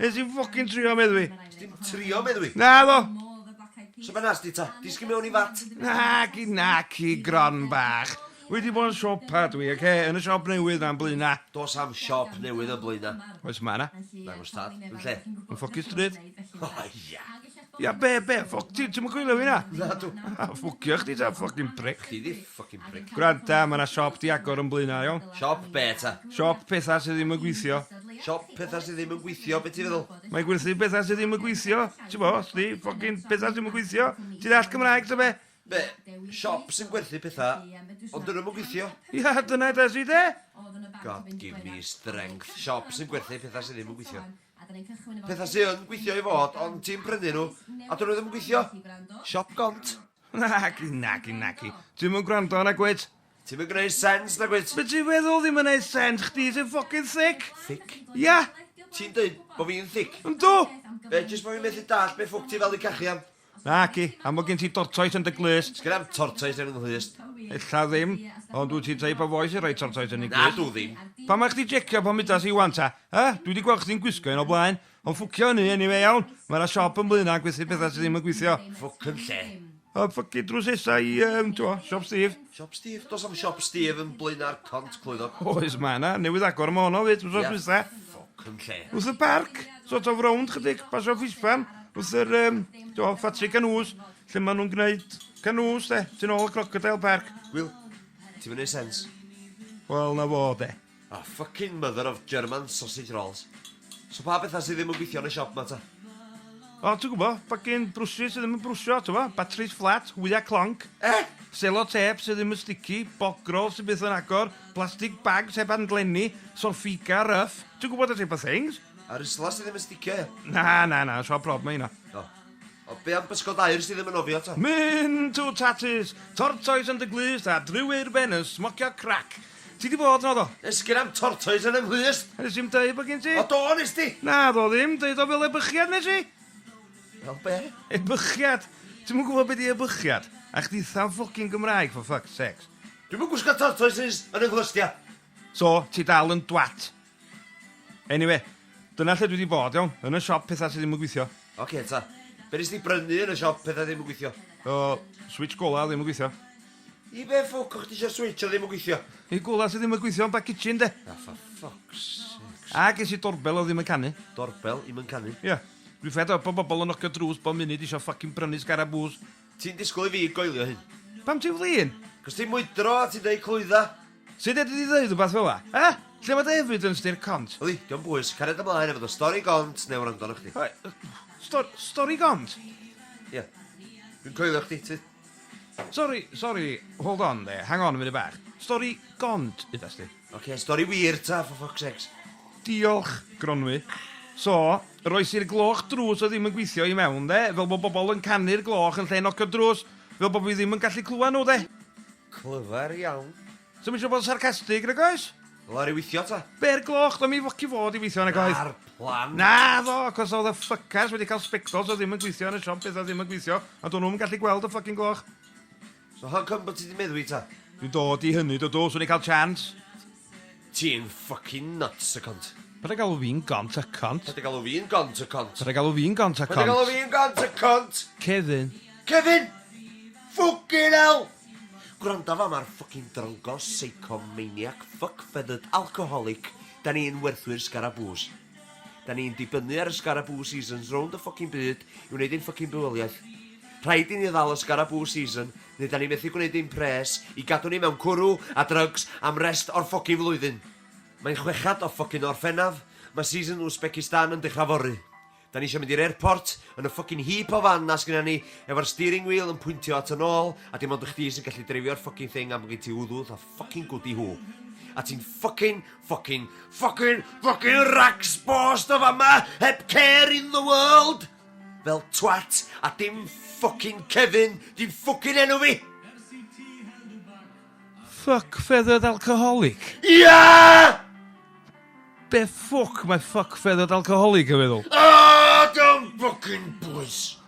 Nes i'n ffocin trio meddwi. Dim trio meddwi. Na ddo. So fe nas di ta? Disgyn mewn i fat? Naci, naci, gron bach. Wy di bod yn siopa dwi, oce? Yn y siop newydd na'n blaena. Dos am siop newydd yn blaena. Oes ma na? Nagos tad. Yn lle? Yn ffocin stryd. O ia. Ia be be ffwc ti ti'm yn gwylio fi na? Nadw. A ffwcio chdi ta ffycin pric. Chi di ffycin pric. Gwranda ma' na siop di agor yn Blaenau iawn? Siop be ta? Siop petha sy ddim yn gweithio. Siop petha sy ddim yn gweithio be ti feddwl? Mae'n gwerthu petha sy ddim yn gweithio ti bo chdi ffycin petha sy ddim yn gweithio ti ddall Cymraeg ta be? Be? Siop sy'n gwerthu petha ond dyn nhw'm yn gweithio? Ia dyna edes i de? God give me strength. Siop sy'n gwerthu petha sy ddim yn gweithio. Pethau sy yn gweithio i fod, ond ti'n prynu nhw, a dyn nhw ddim yn gweithio. Siop gont. Naci, naci, naci. Ti'm yn gwrando na gwyd. Ti'm yn gwneud sens na gwyd. Be ti'n feddwl ddim yn gwneud sens? Chdi sy'n ffocin thic. Thic? Ia. Ti'n dweud bod fi'n thic? Yndw! Be, jyst bod fi'n methu dall be ffwc ti fel i cachu am? Naci, am bod gen ti tortoes yn dy glust. Sgen am tortoes yn nghlust. Ella ddim, ond wyt ti type o foi sy'n rhoi tortoes yn ei glust? Na, dw ddim. Pam mae chdi jecio pan mudas i wan ta? Ha? Dwi wedi gweld chdi'n gwisgo un o blaen. Ond ffwcio hynny, eniwe iawn. Mae yna siop yn Blaenau yn gwerthu pethau sydd ddim yn gweithio. Ffwc yn lle. O, ffycin drwsesau i, um, t'wo, siop Steve. Siop Steve? Does am siop Steve yn Blaenau'r Cont, clwyddog. Oes, mae yna. Newydd agor yma honno, fyd, wrth oes dwytha. Ffwc yn lle. Wrth y parc. sort of rownd chydig, pasio ffispan wrth yr um, do, ffatri canŵs, lle maen nhw'n gwneud canŵs, de, ti'n ôl y Crocodile Park. Will, ti'n mynd sens? Wel, na fo, de. A oh, fucking mother of German sausage rolls. So pa bethau sydd ddim yn gweithio yn y siop ma ta? O, ti'n gwybod, fucking brwsys sydd ddim yn brwsio, ti'n gwybod, batteries flat, hwyau clonc. Eh? Selo tep sydd ddim yn sticky, bogrol sydd byth yn agor, plastic bags heb anglenni, solfiga rough, ti'n gwybod y type of things? A'r isla sydd ddim yn sticio, ia? Na, na, na, siop rob mae hynna. O. O, be am bysgod air sydd ddim yn ofio to? Mynd to tatys, tortoes yn dy glust a driw i'r ben yn smocio crac. Ti di bod yno do? Esgyn am tortoes yn ymhlust! Nes i'm deud bod gen ti. O do, nes di! Na, do ddim, deud o fel ebychiad nes i! Fel be? Ebychiad! Ti'm yn gwybod be di ebychiad? A chdi tha'n ffocin Gymraeg for fuck's sakes. Dwi'm yn gwisgo tortoises yn 'y nghlust, ia? So, ti dal yn dwat? Anyway, dyna lle dwi 'di bod, iawn? Yn y siop petha sy ddim yn gweithio. Ocê ta. Be' nes di brynu yn y siop petha ddim yn gweithio? O, switsh gola ddim yn gweithio. I be' ffwc o' chdi isio switsh o ddim yn gweithio? Y gola sy ddim yn gweithio yn ba kitchen 'de? Ah for fuck's sakes. A ges i doorbell o ddim yn canu. Doorbell 'im yn canu? Ia. Dwi fed up o bobol yn nocio drws bob munud isio ffycin prynu sgarabŵs. Ti'n disgwyl i fi goelio hyn? Pam ti'n flin? Cos ti'n mwydro a ti'n deud clwydda. Sut fedri di ddeud rhywbeth fel 'na? E? Lle mae dy evidence di i'r cont? Yli, dio'm bwys, cariad ymlaen efo dy stori gont neu wrando arnoch chdi. Stor- stori gont? Ie. Dwi'n coelio chdi, ti. Sori, sori, hold on dde, hang on munud bach. Stori gont, udas di? Ocê, stori wir ta, for fuck's sakes. Diolch, Gronwy. So, yr oes i'r gloch drws oedd ddim yn gweithio i mewn, de? Fel bod bobl yn canu'r gloch yn lle nocio'r drws, fel bod fi ddim yn gallu clywed nhw, de? Clyfar iawn. Swn i'm eisiau bod yn sarcastig, nag oes? Wel, ar ei weithio ta? Be'r gloch, do mi foci fod i weithio, nag oedd? Na'r plan. Na, ddo, cos oedd y ffycars wedi cael sbectols oedd ddim yn gweithio yn y siop beth oedd ddim yn gweithio, ond o'n nhw'm yn gallu gweld y ffycin gloch. So how come bod ti di meddwi ta? Dwi'n dod i hynny, Dodo, swn i'n cael chance? Ti'n ffycin nuts, y cont. Paid â galw fi'n gont, y cont. Paid â galw fi'n gont, y cont. Paid â galw fi'n gont, y cont. Paid â galw fi'n gont, y cont. Kevin. Kevin! Ffwcin hell! Gwranda fama ar ffycin dryngo, seico, maniac, fuck feathered alcoholic, da ni'n werthwyr sgarabŵs. Da ni'n dibynnu ar y Sgaraboo Seasons rownd y ffocin byd i wneud ein ffocin bywoliaeth. Rhaid i ni ddal y Sgaraboo Season, neu da ni methu gwneud ein pres i gadw ni mewn cwrw a drygs am rest o'r ffocin flwyddyn. Mae'n chwechad o ffocin Orffennaf, mae season Uzbekistan yn dechrau fory. Da ni eisiau mynd i'r airport, yn y ffocin heap o fan 'na sgynna ni, efo'r steering wheel yn pwyntio at yn ôl, a dim ond chdi sy'n gallu dreifio'r ffocin thing am bo' gen ti wddw, Ffycin gwd i hw. A ti'n ffycin, ffycin, ffycin, ffycin rags bost o fama heb care in the world! Fel twat, a dim ffycin Kevin, dim ffycin enw fi! Fuck feathered alcoholic? Ia! Be ffwc mae fuck feathered alcoholic yn feddwl? Ahh! Don't ffycin bwys!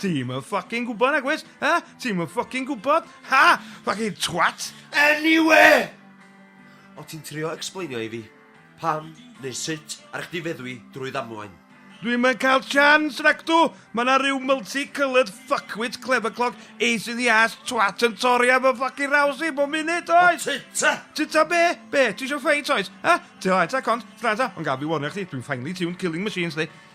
Ti'm yn ffycin gwbod nagwyt? Ha? Ti'm yn ffycin gwbod? Ha! Ffycin twat! Anyway! O' ti'n trio explainio i fi pam neu sut ar chdi feddwi drwy ddamwain. Dwi'm yn cael chance nacdw! Ma' 'na ryw multi-coloured fuckwit clever clock ace in the arse twat yn torri ar fy ffycin raws i bob munud, oes? O tŷ ta! Tŷ ta be? Be? Ti isio ffeit, oes? Ha? Tŷ oes ta cont? Gwranda, ond gad fi warnio chdi, dwi'n finely tuned killing machines, 'sti.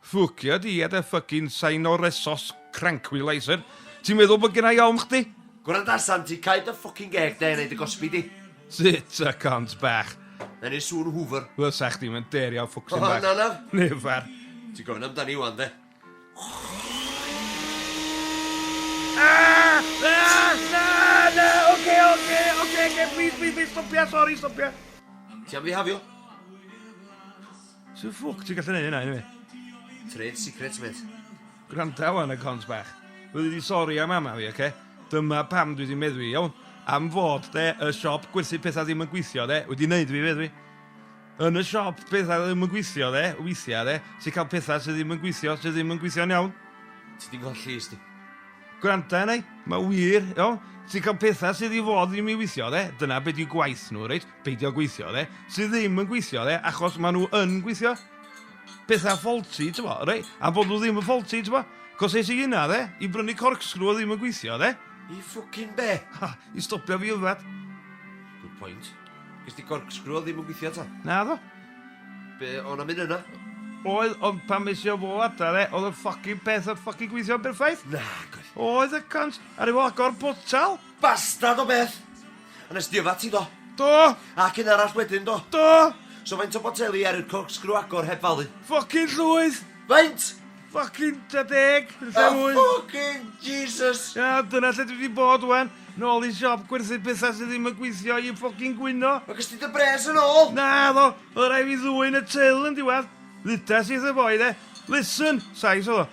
Ffwcio di a dy ffycin sign o resos, crankwileiser. Ti'n meddwl bod gennai ofn chdi? Gwranda Santi, cau dy ffwcin geg de a neud y gosbi di. Sut y cont bach? Na neud sŵn hwfr. Fysa chdi mae'n dêr iawn ffwcsin bach. O na na. Never. Ti'n gofyn amdani wan de. Aah! Aah! Na! Na! Oce oce oce oce please please please stopia sori stopia. Ti am fi hafio? Sut ffwc ti'n gallu neud hynna eniwe? Trade secret mêt. Gwranda wan y cont bach. Dwi wedi sori am mama fi oce? Dyma pam dwi wedi meddwi iawn am fod de y siop gwerthu petha ddim yn gweithio de wedi neud fi feddwi. Yn y siop petha ddim yn gweithio de weithia de ti'n cael petha sydd ddim yn gweithio sydd ddim yn gweithio'n iawn. Ti di golli is di. Gwranda arna i, mae wir, iawn? Ti'n cael petha sydd i fod ddim i weithio de, dyna be di gwaith nhw reit? beidio gweithio, de, sydd ddim yn gweithio, de, achos maen nhw yn gweithio. Pethau faulty, ti'n bo, rei, a bod nhw ddim yn faulty, ti'n bo. Cos es i yna, de, i brynu corkscrew o ddim yn gweithio, de. I ffwcin be? Ha, i stopio fi yfed. Good point. Gys di corkscrew o ddim yn gweithio ta? Na, ddo. Be, o'n am un yna? Oedd, ond pan mes i o fo adra, de, oedd y ffocin peth yn ffocin gweithio'n berffaith. Na, gwaith. Oedd y cant, ar efo agor botal. Bastard o beth! Yn y stiwfa ti do? Do! Ac un arall wedyn do? Do! So faint o boteli ar yr corkscrew agor heb falu? Ffocin llwyth! Faint? Ffocin ta deg, yn lle oh, mwy. ffocin Jesus! Ia, dyna lle dwi wedi bod wen. Nôl i siop gwerthu pethau sydd ddim yn gweithio i ffocin gwyno. Mae gysdi dy bres yn ôl! Na, ddo, oedd rai fi ddwy'n y teil yn diwedd. Ddudas i eitha boi, de. Listen, sais oedd o.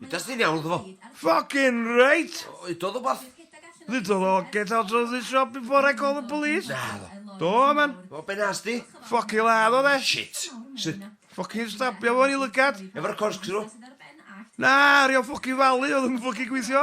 Mae'n dysgu'n iawn iddo fo. Ffocin reit! Udodd o bath. Ddudodd o get out of this shop before I call the police. Naddo. Do, man. O, be nas di? Ffocin ladd o, de. Shit. Sut? Ffocin stabio fo yn ei lygad. Efo'r corkscrew? Na, ar ei ol ffocin falu, oedd yn ffocin gweithio.